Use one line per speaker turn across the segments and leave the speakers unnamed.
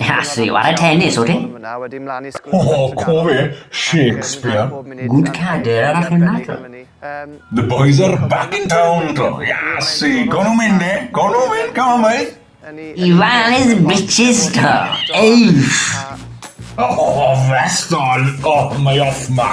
Has fi
ware tennis, ote? O,
cofi, Shakespeare. Good
cader arall yn naddo. The
boys are back in town, dro. Iasi, gwn nhw'n mynd, eh? Gwn nhw'n mynd, come on, boys. I fales
bitches, dro. Eiff! O, oh,
festol! O, oh, mae off ma.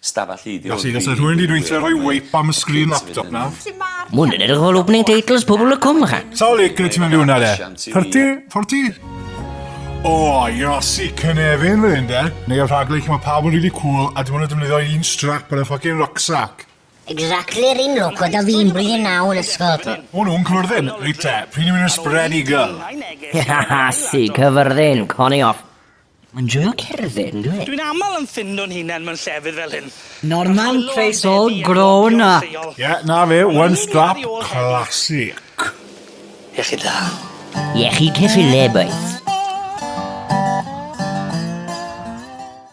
Stafell ydi hwn. Felly, os oedd rhywun wedi gweithio
rhoi wipe am y sgrin laptop na? Mwyn yn edrych o'r
opening titles pobl y cwm ycha. Sawl le gyda ti mewn hwnna
de? 30? 40? O, Iasi, cynefin fan hyn de. Neu y rhaglen lle mae pawb yn really cool a dim ond yn defnyddio un strap ar y ffocin rucksack. Exactly yr
un look oedd o fi'n blwyddyn naw yn ysgol. O nhw'n cyfyrddin,
reit te, pryd ni'n mynd i'r spread eagle? Iasi,
cyfyrddin, coni off. Mae'n joio cerdded, on'd yw e? Dwi'n aml yn ffindo'n
hunen mewn llefydd fel hyn. Norman face
all grown up. Ie, 'na
fe, one strap classic.
Iechyd da.
Iechyd
ceffylau, bois.